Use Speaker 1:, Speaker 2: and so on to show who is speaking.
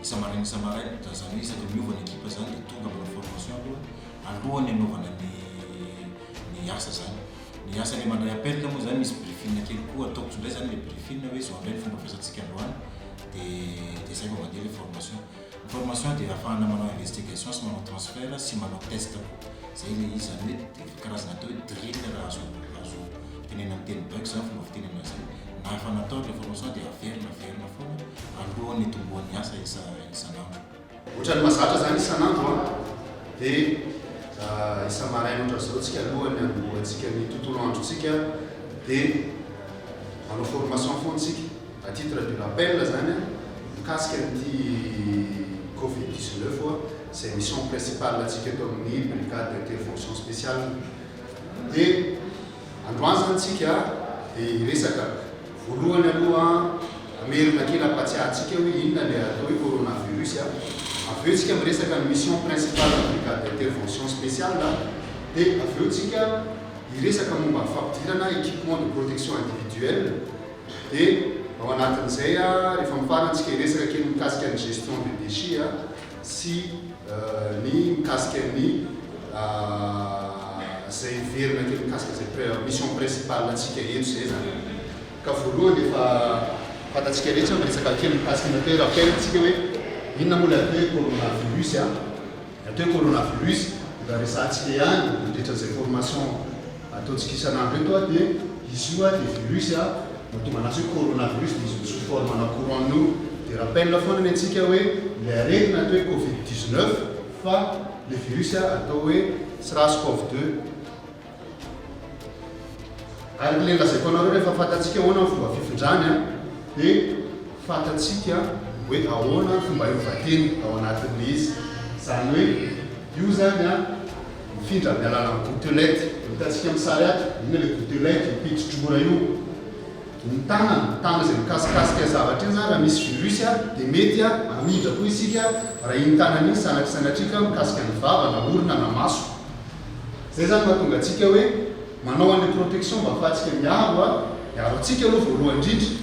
Speaker 1: Isa maraina isa maraina dia zany hoe isaka miova ny ekipa zany dia tonga manao formation aloha alohan'ny anaovana ny ny asa zany. Ny asa le mandray appel moa zany misy briefing kely koa ataoko tsindray zany le briefing hoe zao indray ny fomba fiasantsika androany dia dia zay vao mandeha le formation. Ny formation dia afahana manao investigation sy manao transfert sy manao test koa. Zay le izy zany hoe. Karazana atao hoe drill raha azo azo tenenina amin'ny teny baiko izany fomba fitenenana izay. Na efa natao ilay formation dia averina averina foana alohan'ny hitomboan'ny asa isa isan'andro. Ohatran'ny
Speaker 2: mahazatra izany isan'andro an! Dia isa-maraina ohatran'izao isika alohan'ny hanombohantsika ny tontolo androntsika dia manao formation foana isika. A titre de rappel izany an, mikasika an'ity covid dix-neuf izay mission principale antsika eto amin'ny brigade d'intervention spéciale dia androany zany tsika dia hiresaka voalohany aloha hamerina kely ampatsiahantsika hoe inona ilay atao hoe coronavirus a avy eo tsika miresaka ny mission principale ny brigade d'intervention spéciale dia avy eo tsika hiresaka momba ny fampidirana équipement de protection individuelle dia ao anatin'izay a rehefa mifarana tsika hiresaka kely mikasika ny gestion de déchets a sy ny mikasika ny izay heverina kely mikasika izay mission principale antsika eto izay zany ka voalohany efa fantatsika rehetra ny resaka kely mikasika ny atao hoe rappel tsika hoe inona moa ilay atao hoe coronavirus a, ny atao hoe coronavirus mba resahantsika ihany mandritra izay formation. ataontsika isan'andro eto a dia izy io a dia virus a mahatonga anazy hoe corona virus dia izy no sous forme ana courant no dia rappel foana ny antsika hoe ilay aretina atao hoe covid 19 fa ilay virus a atao hoe sras cov 2 ary ilay lazaiko anareo rehefa fantatsika ahoana ny fomba fifindrany a dia fantatsika hoe ahoana ny fomba hiova teny ao anatin'ilay izy izany hoe io zany a Mifindra amin'ny alalan'ny gouttelette. Hitantsika amin'ny sary ato, inona ilay gouttelette, io pitsodrora io. Ny tanana, ny tanana izay mikasikasika zavatra io izany raha misy virus dia mety hamindra koa isika raha iny tanana iny sanatria sanatria ka mikasika ny vava na orona na maso. Izay izany mahatonga antsika hoe manao an'ilay protection mba hahafahantsika miaro, hiaro antsika aloha voalohany indrindra.